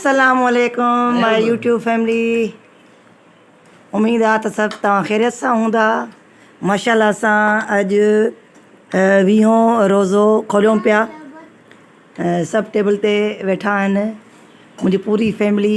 السلام عليڪم ماء يوٽيوب فيملي اميد آ ته سڀ توهان خيريت سان هوندا ماشاءالله اسان اڄ ويهون روزو کوليون پيا سڀ ٽيبل تي ويٺا آهن منهنجي پوري فيملي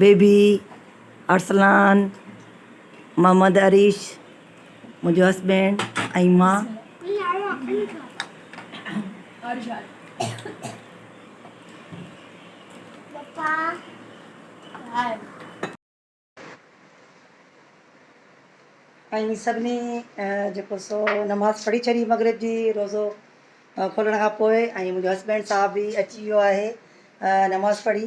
بيبي، ارسلان، محمد اريش، منهنجو هسبينڊ ۽ مان. ۽ سڀني جيڪو سو نماز پڙهي ڇڏي مغرب جي روزو کولڻ کان پوء ۽ منهنجو هسبينڊ صاحب به اچي ويو آهي نماز پڙهي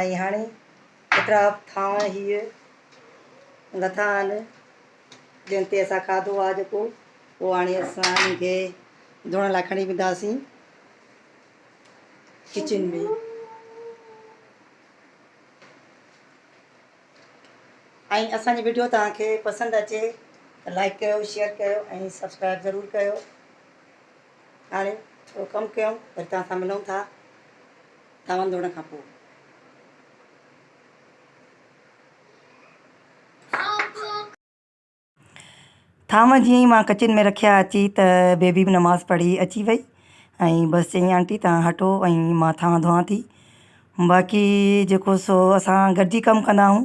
۽ هاڻي پٽا ٿانء هيء لٿا آهن، جن تي اسان کاڌو آهي جيڪو، پوء هاڻي اسان انهن کي ڌوئڻ لاء کڻي وينداسين ڪچن ۾. ۽ اسان جي وڊيو توهان کي پسند اچي ته لائيڪ ڪيو، شيئر ڪيو ۽ سبسڪرائيب ضرور ڪيو. هاڻي ٿورو ڪم ڪيون وري توهان سان ملون ٿا. تاون ڌوڙڻ کان پوء. تاون جيئن ئي مان ڪچن ۾ رکيا اچي ته بيبي به نماز پڙهي اچي وئي ۽ بس چيائين آنٽي توهان هٽو ۽ مان تاون ڌوئان ٿي باقي جيڪو سو اسان گڏجي ڪم ڪندا آهيون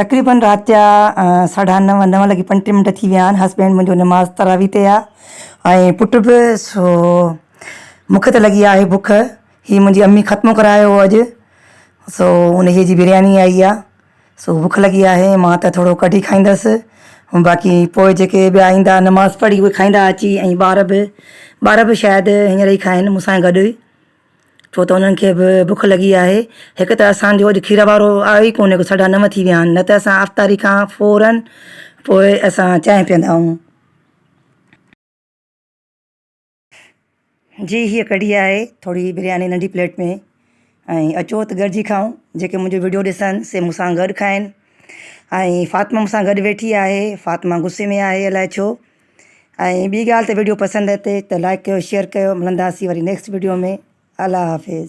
تقريبن رات جا ساڍا نو، نو لڳي پنجٽيهه منٽ ٿي ويا آهن. هسبينڊ منهنجو نماز تراويح تي آ ۽ پٽ به سو مونکي ته لڳي آهي بک. هي منهنجي امي ختمو ڪرايو هو اڄ سو انهيء جي برياني آئي آ سو بک لڳي آهي. مان ته ٿورو ڪڍي کائيندس ۽ باقي پوء جيڪي ٻيا ايندا نماز پڙهي اهي کائيندا اچي ۽ ٻار به، ٻار به شايد هينئر ئي کائن مون سان گڏ. ڇو ته انهن کي به بک لڳي آهي. هڪ ته اسان جو اڄ کير وارو آيو ئي ڪونهي، ساڍا نو ٿي ويا آهن، نه ته اسان افطاري کان فوراً پوء اسان چانهه پيئندا آهيون. جي هيء ڪڍي آهي ٿوري برياني ننڍي پليٽ ۾ ۽ اچو ته گڏجي کائون. جيڪي منهنجو وڊيو ڏسن سي مون سان گڏ کائن ۽ فاطمه مون سان گڏ ويٺي آهي. فاطمه غصي ۾ آهي الائي ڇو. ۽ ٻي ڳالهه ته ويڊيو پسند اچي ته لائڪ ڪيو شيئر ڪيو ملنداسين وري نيڪسٽ ويڊيو ۾ الله حافظ.